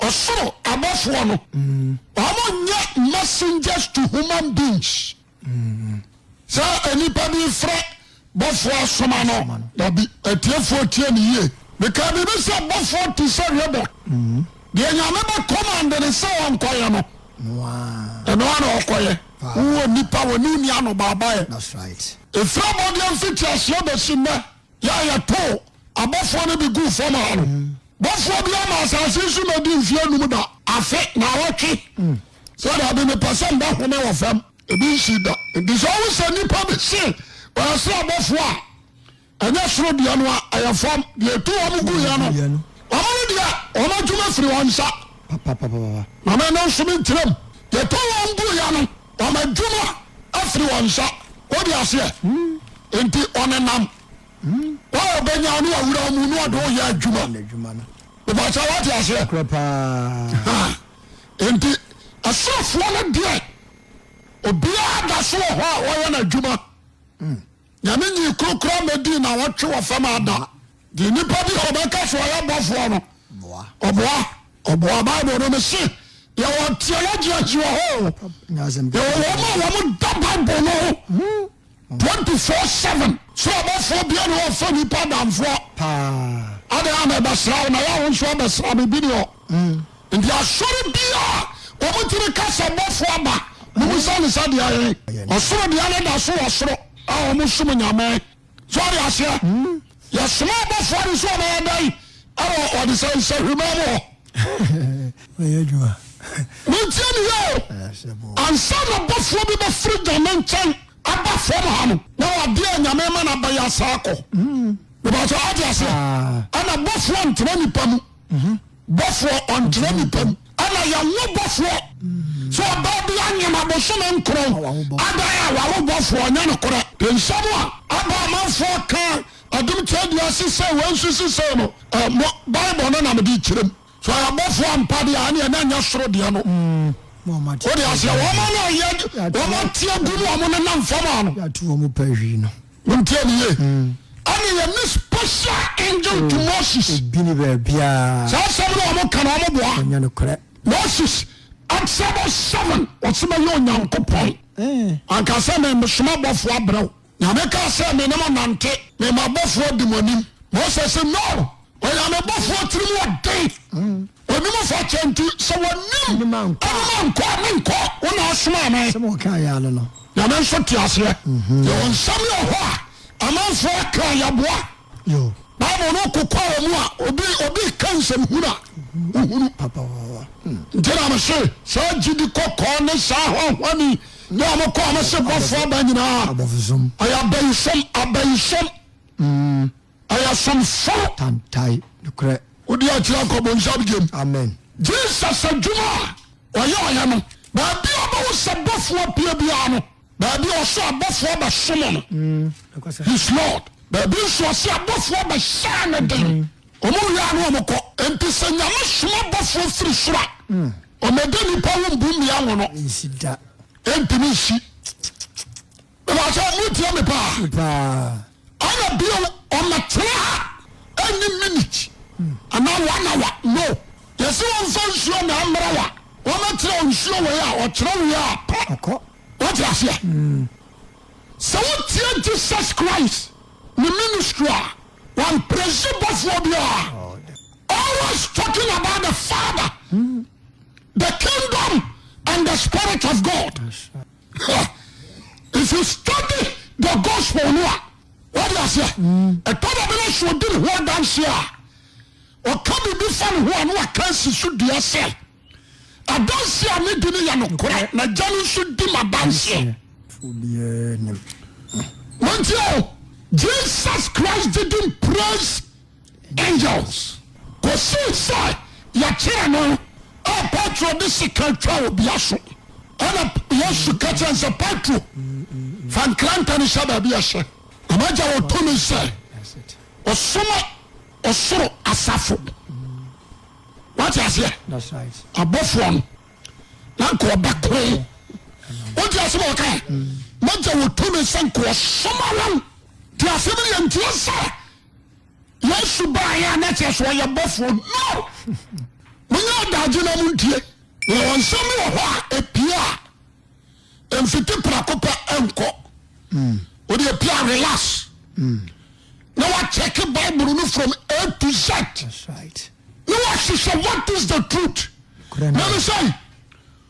ɔsoro abɔfoɔ no wɔnyɛ messengers to human beings sɛ nnipa bi frɛ Bɔfoɔ asoma no. Dabi, atiefoɔ tie me yie. Mekaa biribi sɛ bɔfoɔ te sɛ Rebot. Mm-hmm. Deɛ Nyame bɛ kɔmande no sɛ ɔnkɔyɛ no. Wow. Ɛno ara na ɔkɔyɛ. Wowɔ nipa wɔ ne nni anobaabaeɛ. That's right. Ɛfiri abɔdeɛ mfitiaseɛ bɛsi nnɛ, yɛ a yɛtoo abɔfoɔ no bi guu fam ha no, mm. bɔfoɔ bi ama asase yi so na di mfeɛ num da. Afe, na awɔtwe. Mm. Sɛ daabi, mepɛ sɛ mbɛhome wɔ fam. ebi nsi da. nti sɛ ɔwo sɛ nipa bi se ɔyɛ soro abɔfoɔ a ɛnyɛ soro deɛ no a ɛyɛ fam deɛ ɛtu wɔn gu yɛ no wɔn no deɛ wɔn adwuma firi wɔn nsa na me no nso menkyerɛm deɛ tu wɔn gu yɛ no wɔn adwuma afiri wɔn nsa wode aseɛ hmm. nti ɔnenam hmm. wa ɔbɛnya no awura mu na ɔde woyɛ adwuma bɛbɛkyɛ wate aseɛ Enti asraafoɔ no deɛ, obiara da so wɔ hɔ a ɔyɛ n'adwuma. Nyame nyii koro koraa mmɛdii nnawɔtwe wɔ fam ha da. Deɛ nnipa bi a ɔbɛka sɛ ɔyɛ bɔfoɔ no, ɔboa. Ɔboa. Bible no no se, yɛwɔ theologians wɔ hɔ o, yɛwɔ wɔn a wɔda Bible no ho. 24/7. So ɔbɔfoɔ biara ne hɔ a ɔfa nnipa adamfoɔ? Paa. Adɛn a mebɛsra wo na yɛ a wo nso abɛsra me? Bi ne hɔ. Nti asɔre biara a wɔtumi ka sɛ bɔfoɔ aba no mu sɛ ne sɛ deɛ ɛhe? Ɔsoro deɛ no da so wɔ soro a wɔsom Nyame. So ɔde aseɛ? Yɛsoma abɔfoɔ no sɛ wɔbɛyɛ dɛn wɔ wɔde sɛ nsahwima mu hɔ? Bɛyɛ adwuma. Montie me yie o. Ansa na bɔfoɔ bi bɛfiri Nyame nkyɛn aba fam ha no, na wade a Nyame ma no abɛyɛ asan akɔ. Mepakyɛ, woate aseɛ? Ɛna bɔfoɔ ntena nipa mu. mhm. bɔfoɔ ɔntena nipa mu. ɛna yɛwo bɔfoɔ mhm. so ɔbaa bi anyem abosome nkron adan a wawo bɔfoɔ ɔnyɛ no korɛ nsɛm a aba amanfoɔ ka adom kyɛ di ase sɛ wei nso sisei no mo bible no na mede kyerɛm so ɔyɛ bɔfoɔ ampa deɛ ɛne ɛna nyɛ soro deɛ no mm. wode aseɛ wɔma no ɔyɛ wɔma teɛ gu no ɔmo nenam fam a no Montie me yie. Ɛna Yɛne special angel to Moses. Obi ni baabiara. Saa asɛm no a wɔka no, wɔn boa. Ɛnyɛ nokorɛ. Moses, Exodus seven, wɔsi bɛyɛ Onyankopɔn. Anka sɛ me mesoma bɔfoɔ abrɛ wo. Nyame kaa sɛ me ne mo nante, me ma bɔfoɔ di mo anim. Moses, No! Ɔyɛ amebɔfoɔ tirim wɔ den. Ɔnim mm. fa kyɛ nti sɛ wɔnim nim ankɔ a menkɔ wo na asomaa me. Sɛm wɔka yɛ ano no. Nyame nso te aseɛ. Mhm. Yɛwɔ nsɛm yɛ hɔ a amanfoɔ aka yɛboa. Bible no kokɔ a wɔn a obi obi ka nsɛm hunu a mhm. wohunu. Mm. Nti na mese saa gyidi kɔkɔɔ ne saa hɔhɔni ne a mokɔ a mese bɔfoɔ aba nyinaa. Ɔyɛ abayisom abayisom. Mm. Ɔyɛ somfo. Tantae nokorɛ. Wode akyire akɔ bonsam gyem. Amen. Jesus adwuma a ɔyɛ ɔyɛ no baabi a ɔbɛwo sɛ bɔfoɔ apue biara no baabi a ɔsɛ abɔfoɔ bɛsom no mm, his lord baabi nso ɔsɛ abɔfoɔ bɛhyɛɛ ne den mm. ɔmo wia no ɔmo kɔ nti sɛ nyame soma abɔfoɔ firi soro a mm. ɔmɛde nipa wo mbu mmea wo no ɛntumi nsi Mebasa motie me paa. Ɛna bio ɔmɛtena ha ɛni minute ana one hour no yɛsi wɔn fa nsuo na ɛmra wa wɔmɛtena nsuo wɔ yɛ a ɔkyerɛ wɔ yɛ a kɔ wɔte aseɛ sɛ wotie Jesus Christ ne ministry a wɔn presi bɔfoɔ bi a always talking about the father the kingdom and the spirit of God. if you study the gospel no a wade aseɛ ɛtɔ da bi no sɛ ɔdi ne ho adanseɛ a ɔka biribi fa ne ho a na waka asi so dua sɛ adanseɛ a ne di no yɛ nokorɛ na gya no nso di ma adanseɛ mantie o jesus christ didn't praise Angels, kosii sɛ yɛkyeree no a Petro de sekan twaa obia so. Ɛna Yesu ka kyerɛ no sɛ, Petro, fa nkrantɛ no hyɛ baabi a ɛhyɛ, na m'Agya wɔ tumi sɛ ɔsoma ɔsoro asafo. Wate aseɛ? Abɔfoɔ no na nka ɔbɛko. Wonte ase ma ɔka ɛ? M'Agya wɔ tumi sɛ nka ɔsoma wɔn. Te aseɛ bi yɛ nteɛ sɛ Yesu baeɛ a na kyerɛ sɛ ɔyɛ bɔfoɔ no monyɛ adagye na montie na wɔn nsɛm wɔ hɔ a ɛpie a mfiti prako pɛ nkɔ wode hmm. ɛpie a relax hmm. na wakyɛke bible no from a to z na wahwehwɛ what is the truth na mesɛi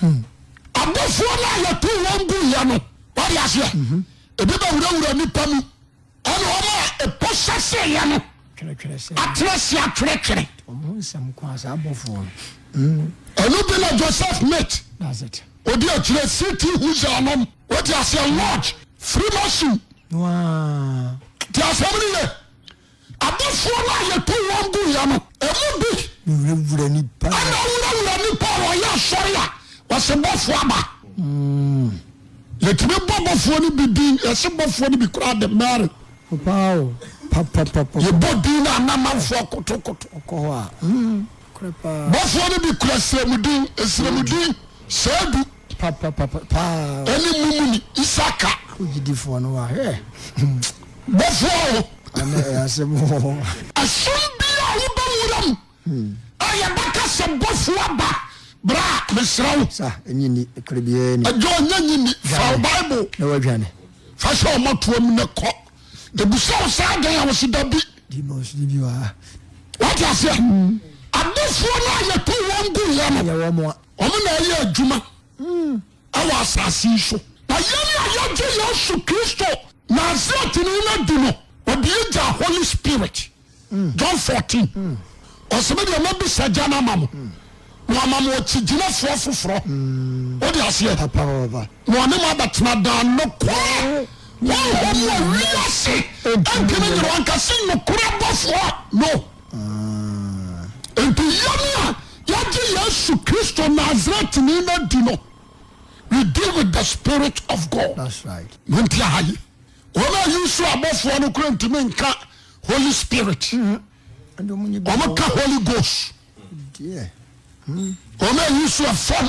Hmm. Abɔfoɔ no a yɛtoo wɔn guiɛ no, wade aseɛ, mhm. ebi bɛwurawura nnipa mu, ɛna wɔn a ɛpo hyɛseeɛ no atena se atwerɛtwerɛ. Hmm. Ɛno bi na Joseph Smith ɔde akyerɛ City Huza nom, wade aseɛ, Lodge, Freemason. Ti asɛm no yɛ. Abɔfoɔ no a yɛtoo wɔn guiɛ no, ɛmu bi. Wurawura nnipa. Ɛna ɔwurawura nnipa a wɔyɛ asɔre a wɔse bɔfoɔ aba. Yɛtumi bɔ bɔfoɔ no bi din, yɛse bɔfoɔ no bi koraa de Mary. Papa o, papa papa. Yɛbɔ din no a na amanfoɔ kotokoto. Ɔkɔ hɔ a, korɛ paa. Bɔfoɔ no bi kura siremudin, esiremudin, Seedu. Ɛne mumuni isaka. Wogyidifoɔ no wa hɛ. Bɔfoɔ o. Ɛne ɛyasɛm hɔ. Ɛsom bi a wobɛ wura mu. Hmm. A yɛbɛka sɛ bɔfoɔ aba. Bra mesrɛ wo. Sa ɛnyi ni ɛkore biara ni. Ɛdwa ɔnyɛ nyi ni. Fa o bible. Na wadwane. Fa hyɛ ɔmɔ toa mu ne kɔ. Ebusa wo saa dɛn a wɔsi da bi. Demons ni bi wa. Wate aseɛ. Hmm. Abɔfoɔ no a yɛto wɔn gu yɛ no. Yɛ wɔn a. Wɔn na ɛyɛ adwuma wɔ asase yi so. Na yɛn a yɛgye Yesu Kristo Nasaretni no adi no, wɔde yɛ gya Holy Spirit. John 14, ɔsɛ me deɛ mɛbisa gya no ama mo, na wama mo ɔkyigyinafoɔ foforɔ. Wode aseɛ? Na ɔne mo abɛtena daa nokorɛ Honhom mu a wiase ntumi nyere wankasa nokorɛ bɔfoɔ no. Enti yɛn a yɛagye Yesu Kristo Nasaretni no adi no, we deal with the spirit of God. Monti aha yi, wɔn a Yusuf abɔfoɔ no kura ntumi nka Holy Spirit. Wɔn ka Holy Ghost. Wɔn a Yusuf fam.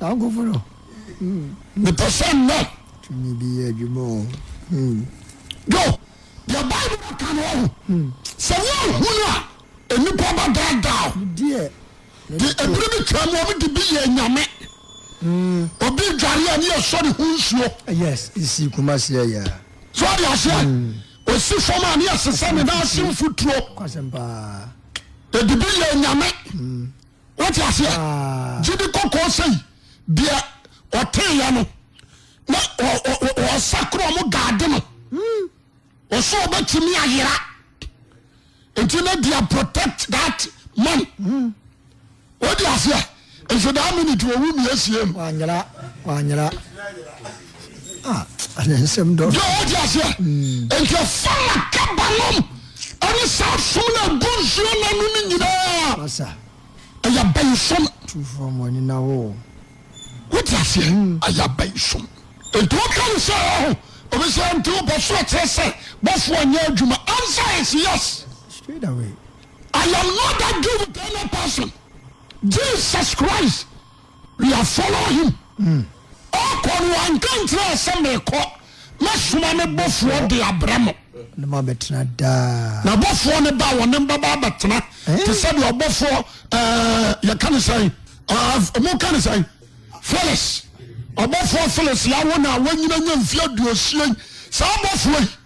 N'ankofo no, mm. Mepɛ sɛ nnɛ. Tumi bi yɛ adwuma o, mm. Yo, deɛ Bible bɛka no ɔho. Mm. Sɛ woanhu no a, nnipa bɛdaadaa o. Deɛ. De ebiri bi twaa mu, wɔn de bi yɛ nyame. Mm. Obi dware a ne yɛ sɔ ne ho nsuo. Yes, esi kuma seɛ yɛ. So ɔde aseɛ. Mm. Osi fam a ne yɛ sesa ne nan ase mfuturo. Kwasɛm paa. Edi bi yɛ nyame. Mm. wote aseɛ ah. gye de kɔkɔɔ sɛi deɛ ɔteeɛ no na ɔsa korɔ mo gaade no ɔsɛ hmm. ɔbɛtumi ayera nti na dia protect that man hmm. wode aseɛ nso daa minute wɔwu mmiɛsie no Ah, ɛnna nsɛm dɔ. Deɛ ɔdi aseɛ. Nti ɛfa na kaba nom ɛne saa som na egu nsuo na no ne nyinaa. Masa. Ɛyɛ abayi som. Tufoɔ mu ani na wo. Wodi aseɛ. Ɛyɛ abayi som. Nti ɔka ne sɛ ɛho obi sɛ nti ɔbɔ so ɛkyerɛ sɛ bɔfo ɔnyɛ adwuma. Answer is yes. Straight away. I am not that give with any person. Jesus Christ. We are follow him. Ɔkɔ no wanka nkyerɛ sɛ mekɔ mɛsoma me bɔfoɔ de abrɛ mo. Ne mo abɛtena daa. Na bɔfoɔ no ba wɔne mbaba abɛtena eh? te sɛ deɛ ɔbɔfoɔ ɛɛ eh, yɛka ne sɛn ɛɛ mo ka ne sɛn Phyllis ɔbɔfoɔ Phyllis yawo na wanyina nya mfie aduosia yi saa bɔfoɔ yi.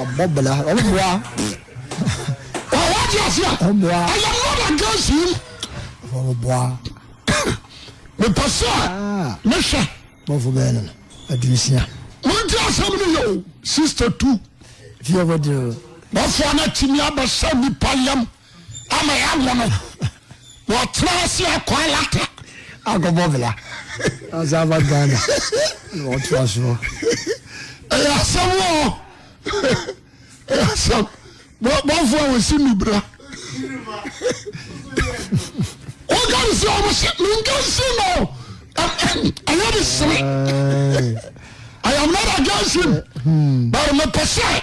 Ɔbɔbla, ɔmmoa. Ɔwɔde ase a. Ɔmmoa. I am not against him. Ɔmmoa. Mepɛ sɛ mehwɛ. Bɔfo bɛyɛ no no, aduosia. Monti asɛm no yɛ o, sister tu. Fie hɔ deɛ. Bɔfoɔ no atumi abɛsɛ nipa yam. ama yɛawo no wɔtena ase akɔ alata akɔbɔ bla asa aba ghana wɔtra soɔ ɛyɛ asɛm ɔ ɛyɛ asɛm bɔfo a wɔsi nubra woka ne sɛ ɔmo se menka nsi no ɛyɛ de sere I am not against him but mepɛ sɛ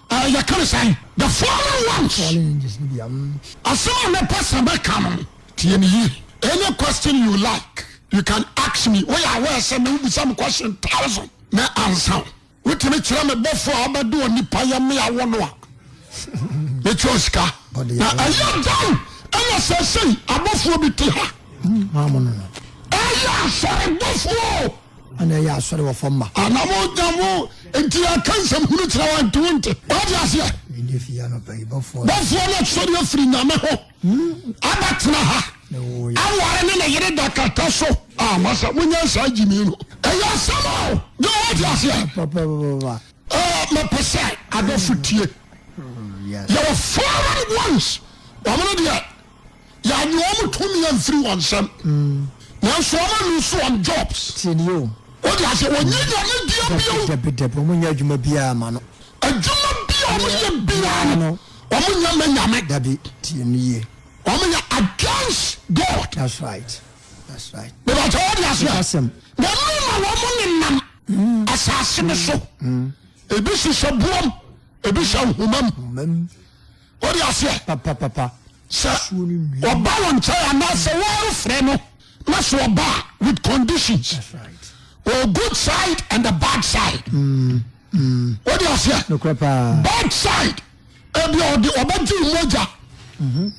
Ɛɛ, yɛka no sɛn? The fallen ones. Fallen angels no bi, amm. Asɛm a mɛpɛ sɛ mɛka no, tie no yie. Any question you like, you can ask me. Woyɛ aware sɛ nnɛ wobisa me question thousand, mɛ ansa wo. Wotumi kyerɛ me bɔfoɔ a ɔbɛde onipa yɛ me awo no a, mɛtua wo sika. Na ɛyɛ dɛn ɛna seesei abɔfoɔ bi te ha? Ɛyɛ asɔrebɔfoɔ o. Ana ɛyɛ asɔre wɔ fam ma. Ana mo na mo nti yɛka nsɛm hunu kyerɛ wɔn nti wonte. Wate aseɛ? Mede fii anɔpa yi bɔfoɔ no. Bɔfoɔ no sɔre afiri Nyame ho abɛtena ha. Aware ne ne yere da kata so. A masa monyɛ saa gyimii no. Ɛyɛ asɛm o. Yo wate aseɛ? Papapapa. Ɛɛ mepɛ sɛ adɔfo tie. Yɛwɔ foreign ones wɔn no deɛ. Yɛannye wɔn tumi amfiri wɔn nsam. Nanso wɔn a lose wɔn jobs. Tie ni o. Wọ́n di ase wọ́n nyɛ nyame bia bio. Dɛbi dɛbi wɔn nyɛ adwuma biara ma no. Adwuma bia wɔn nyɛ biara no wɔn nyɛ mɛ nyame. Dɛbi tie ni yie. Wɔn yɛ against God. That's right. That's right. Bɛbɛ kyɛ wọ́n di ase. Asɛm. Na ɛnu na wɔn ne nam. Asase ne so. Ebi sisɛ buom. Ebi sɛ nhoma mu. Wode aseɛ? Papapapa. Sɛ ɔba wo nkyɛn anaasɛ wɔrefrɛ no na sɛ ɔba a with conditions. That's right. Or good side and the bad side. Mm, mm. Wode aseɛ? Nokorɛ paa. Bad side. Ebi ɔde ɔbɛgye wo mogya. Mhm.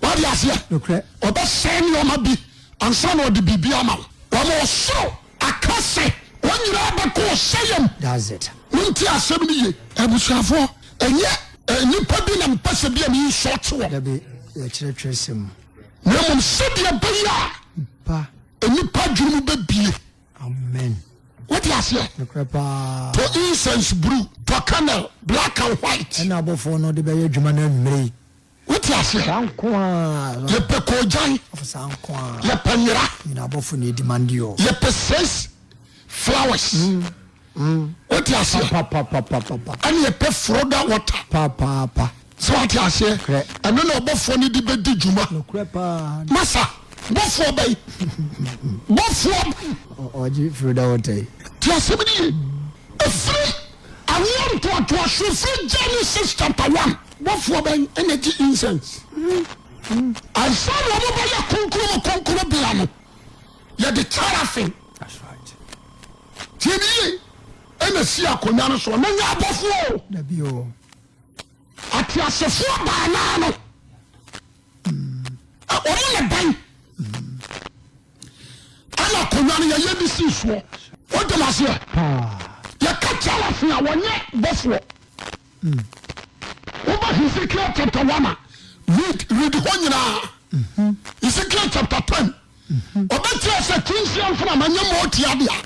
Wode aseɛ? Nokorɛ. Ɔbɛsɛe nneɛma bi ansa na ɔde biribi ama wo. Wɔn ɔsoro Aka sɛ, wɔn nyinaa bɛkɔ ɔsɛeɛm. That's it. Montie asɛm no ye. Abusuafoɔ, ɛnyɛ. Nnipa bi na mepɛ sɛ bia me insult wɔn. Dabi, yɛ kyerɛ twerɛsɛm mu. Na mmom sɛdeɛ ɛbɛyɛ a. Nipa. Nnipa adwene mu bɛbie. Amen. Wote aseɛ? Nokorɛ paa. To incense bruu, tɔ candle, black and white. Ɛna abɔfoɔ no de bɛyɛ adwuma no anwummerɛ yi. wote aseɛ saa nko a yɛpɛ kɔɔgyan afo saa nko a yɛpɛ nyera nyina abɔfo na ɛdi mande ɔ yɛpɛ says flowers mm, mm. wote aseɛ ɛne yɛpɛ froda water papaapa sɛ wote aseɛ ɛno na ɔbɔfoɔ no de bɛdi dwuma masa bɔfoɔ bɛyi bɔfoɔ ɔgye froda water yi te asɛm ne ye ɛfiri Awoɔ ntoatoasoɔ firi Genesis chapter one. Bɔfoɔ bɛn na ɛgye incense? Ansa na wɔbɛyɛ Kronkron mu Kronkronbea no, yɛde teraphim, tie me yie, ɛna ɛsi akonnwa no soɔ. Na nyɛ abɔfoɔ o, Dabi o. ateasefoɔ baanan no, ɛ, wɔn na bɛn. ɛna akonnwa no yɛyɛ de sii soɔ wotem aseɛ yɛka kyɛ afe a wɔnyɛ bɔfoɔ woba hezekiel chapter 1 a read read hɔ nyinaa hezekiel chapter 10 ɔbɛkyerɛ sɛ tinsia mfenama nyɛ ma ɔtia dea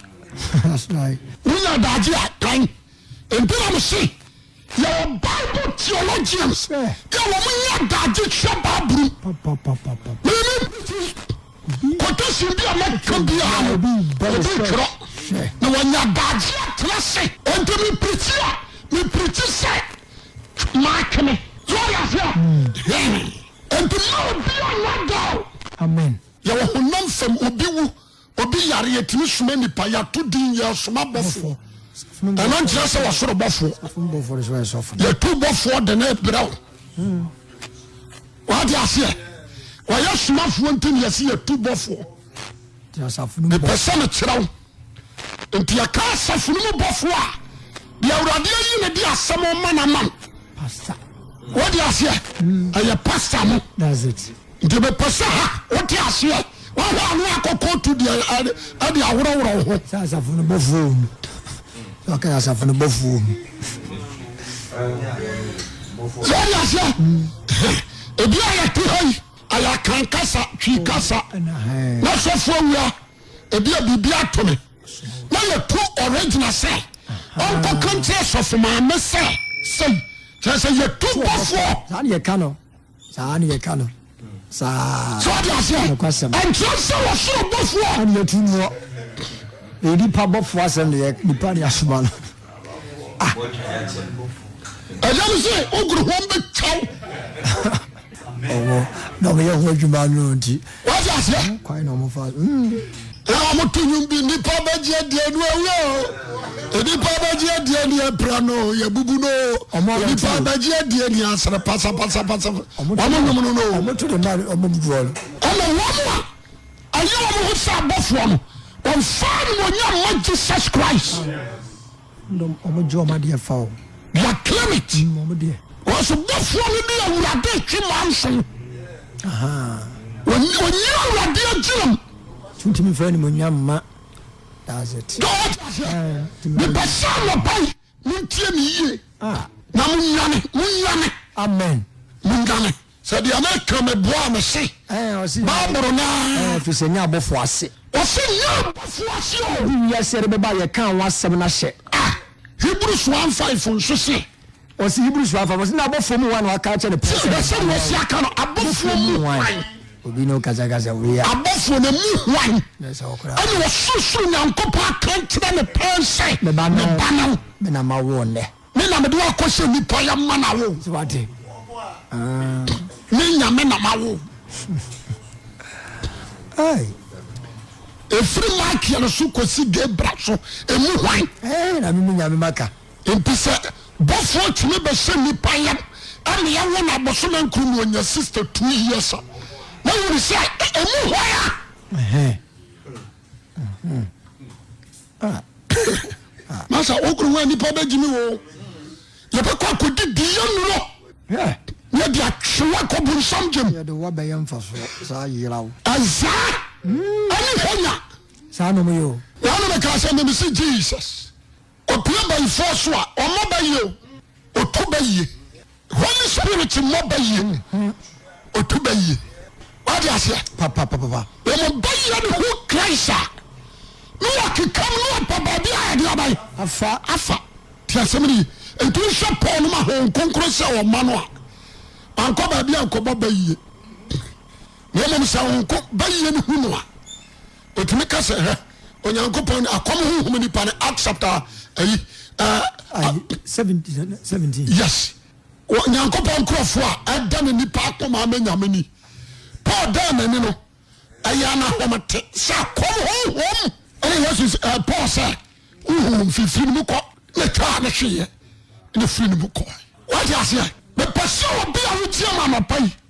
wonya daagye a kan ɛnti na mese Yɛwɔ Bible theologians bi a wɔn nyɛ adaagye kyerɛ Bible mu. Mimi fi quotation bi a mɛka biara no obi twerɛ na wɔnya adaagye atena ase. Enti mi pirikyi a mi pirikyi sɛ maatwene. Yɛ ɔyɛ ase a. Enti mma obi a nya da o. Amen. Yɛwɔ honam fam obi wu. Obi yare yɛtumi soma nipa yɛato din yɛ ɔsom abɔfoɔ ɛno nkyerɛ sɛ wɔsoro bɔfoɔ yɛtu bɔfoɔ de ne brɛ wo hmm. wade aseɛ wɔyɛ somafoɔ nti ne yɛse yɛtu bɔfoɔ mepɛ sɛ mekyerɛ wo nti yɛka asafo no mu bɔfoɔ a deɛ awurade ayi ne de asɛm ɔma no ama no wode aseɛ hmm. ɛyɛ pasta mo Nti mepɛ sɛ ha wote aseɛ wahwɛ a ne wakɔ kootu deɛ ɛde aworɔworɔ ho. Sɛ asafo no bɔfoɔ wɔ mu sɛ ɔka asafo no bɔfoɔ wɔ mu. Sɛ ɔde aseɛ ebi a yɛte ha yi ayɛ akan kasa twi kasa na sɔfoɔ awura ebi a biribi ato me na yɛtu ɔregyina sɛ ɔnkɔ kankyerɛ sɔfo maame sɛ sɛi kyerɛ sɛ yɛtu bɔfoɔ. Saa deɛ ka no saa ne yɛka no saa so ɔde aseɛ nokwasɛm ɛnkyerɛ sɛ wɔsoro bɔfoɔ ɛne yɛtu noɔ ɛyɛ nipa bɔfoɔ asɛm ne yɛ nipa ne asoma no ah. ɛyɛ no sɛ wogoro ho bɛtwaw ɔwɔ na ɔmɛyɛ ho adwuma no nti wọ́n ti aseɛ. wọ́n kwan na wọ́n fa. ɛna hmm. wọ́n to nwom bi nipa bɛgye adie nu awie o nipa bɛgye adie ni ɛpira no yɛ bubu no nipa bɛgye adie ni asere pasapasapasa wọ́n nwom no no. wọ́n to de ma wọ́n bubu bɔɔl. ɛna wɔn a ɛyɛ wɔn ho sɛ abɔfoɔ no wɔn fa ni wɔn nyɛ mma Jesus Christ. Yɛ claim it Ɔsobɔfoɔ no de awurade retwe manso Ɔnyina awurade agyinam Ɔntumi mfa animonyam mma That's it Mepɛ sɛ anɔpa yi montie me yie Na monyane, monyane Amen Monyane Sɛ deɛ meka meboa me se. Ɛɛ ɔsi. Baaboro naa. Ɛɛ fi sɛ nya abɔfo ase. Ɔsi nya abɔfo ase o. Edi wiase ɛde bɛba yɛ kan ho asɛm na hyɛ. Ah Hebrews one five nso se. Ɔsi Hebrews one five ɔsi na abɔfo mu wan waka akyɛ ne pɔn sɛ. Sɛ sɛ wɔsi aka no abɔfo mu wan. Obi ne okasa kasa wei a. Abɔfo ne mu wan. Ɛna ɔsorosoro Nyankopɔn aka kyerɛ ne pɔn sɛ. Me ba no. Me na ma wo nnɛ. Me na mede wo akɔhyɛ nnipa yɛ ma na wo. So wate? Ah. Me nyame na ma wo. Ai. Ɛfiri Michael so kɔsi Gabriel so, ɛmu hwan? Ɛɛ na me nyame maka. Nti sɛ bɔfoɔ tumi bɛhyɛ nnipa yam ɛna yɛwo no abosome nkoro mu ɔnya 62 years a na wone sɛ ɛmu hwan a? masa wo kunu wa nipa bɛ gyimi wo yɛbɛkɔ akɔdi di yɛ nuro ne yɛde atwewa kɔ bonsam gyem yɛde wa bɛyɛ mfasoɔ saa yeraw azaa ɛne hanya saa nom yɛ o na ɔno mɛka sɛ ne mesi jesus ɔpia bayifoɔ so a ɔmɔ ba yie o ɔtu ba yie Holy spirit mmɔ bayie ɔtu bayie wade aseɛ papapapa wɔn bayie ne ho Christ a ne wɔkekam ne ɔpɛ baabi a ɛde aban afa afa te asɛm no yi nti wohwɛ Paul no ma ho nkonkoro sɛ ɔma no a wankɔ baabi a nkɔbɔ bayie na mmom sɛ ho bayie ne hu no a ɔtumi ka sɛ hwɛ onyankopɔn akɔm honhom nipa no act chapter ayi yes nyankopɔn nkurɔfoɔ a ɛda ne nipa akoma ama nyame ni paul dan n'ani no ɛyɛ anahɔmte sɛ akɔm honhom ɛne yesu paul sɛ honhom mfifiri no mu kɔ na twaa no hweeɛ ne firi no mu kɔ wate aseɛ mepɛ sɛ obi a wotie ma anɔpa yi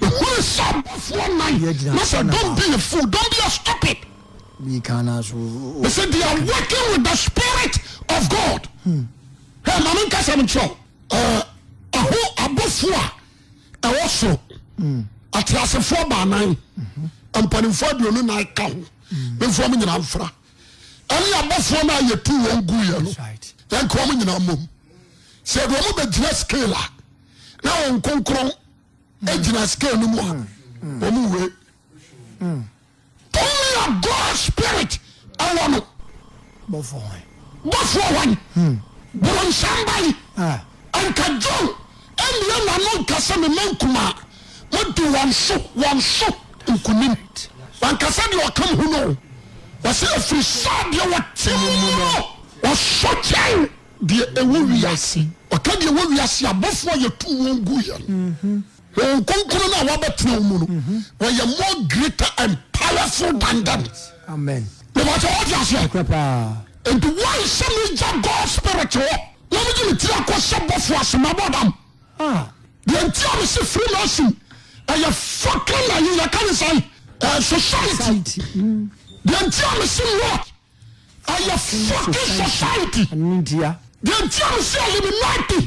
Mehunu sɛ abɔfoɔ nnan na sɛ dɔm bi yɛ fool, dɔm bi yɛ stupid. He said they are working with the spirit of God. Hmm. Hey, ma menka sɛ menkyerɛ wo. Ɛho abɔfoɔ a ɛwɔ soro. Hmm. Ateasefoɔ baanan. Hmm. Mpanimfoɔ aduonu nan ka ho. Memfoɔ mo nyinaa mfra. Ɛne abɔfoɔ no a yɛtu wɔn guiɛ no. Yɛnka wɔn nyinaa mmom. Sɛ ɛde wɔn bɛgyina scale a, na wɔn nkonkron egyina scale no mu a wɔn wei only a God spirit ɛwɔ no bɔfoɔ wɔn bɔfoɔ wɔn boronsamba yi nka John ɛnua n'ano nkasa mi ma nkuma mo di wɔn so wɔn so nkunim wankasa deɛ ɔka mu ho no wɔsɛ efiri sɛ deɛ wɔte mu no wɔsɔ kyɛw. deɛ ɛwɔ wiase. Ɔka deɛ ɛwɔ wiase abɔfoɔ a yɛtu wɔn gu yɛn mhm. wɔn kronkron no a wɔabɛtena wo mu no mhm. wɔyɛ more greater and powerful than them mebatɛ wɔte aseɛ nti wɔn sɛ megya god spirit hɔ na megye me tiri akɔ sɛ bɔfoɔ ase mabɔ dam ah. deɛ nti a mese firi no asi ɛyɛ fɔkɛ na yɛka ne sɛ eh, society mm. deɛ nti a mese lord Ayɛ fucking society. Ɛno ntia. Deɛ ntia me sɛ Illuminati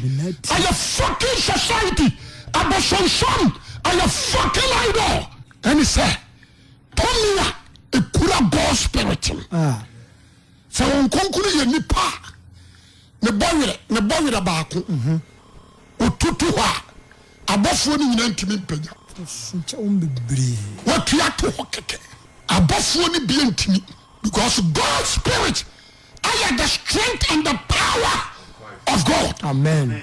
ayɛ fucking society. Abosonsom ayɛ fucking idol. Ɛne sɛ tumi a ekura God spirit no. Ah. Sɛ wɔn nkonkuru yɛ nipa a ne bɔ werɛ ne bɔ werɛ baako. Mhm. Otutu hɔ a abɔfoɔ no nyinaa ntumi mpagya. Wɔtua to hɔ kɛkɛ. Abɔfoɔ no bie ntumi. Because God spirit ayɛ the strength and the power of God. Amen.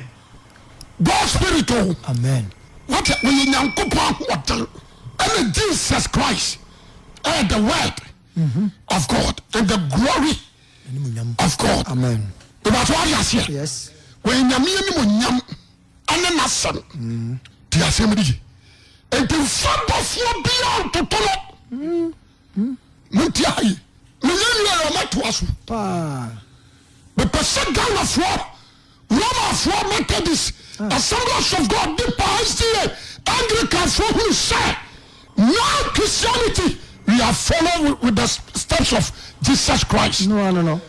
God spirit o. Amen. Wate ɔyɛ Nyankopɔn ahoɔden ɛna Jesus Christ ɛyɛ the word mhm. of God and the glory of God. Amen. Ìbàtí wàá di aseɛ. Yes. Wọ́n nyàmé yẹn ni mo nyàm ɛne n'asɛm. Ti mm. asɛm di yi. Ètò nfa bɔfoɔ bíyà ntòtò no. Mm. monti ha yi menyɛ wie a ɔmɛtoa so mepɛ sɛ ghanafoɔ romafoɔ methodist ah. assemblies of god de pa sda anglicanfoɔ hunu sɛ now christianity we are follow with the steps of jesus christ no, no, no.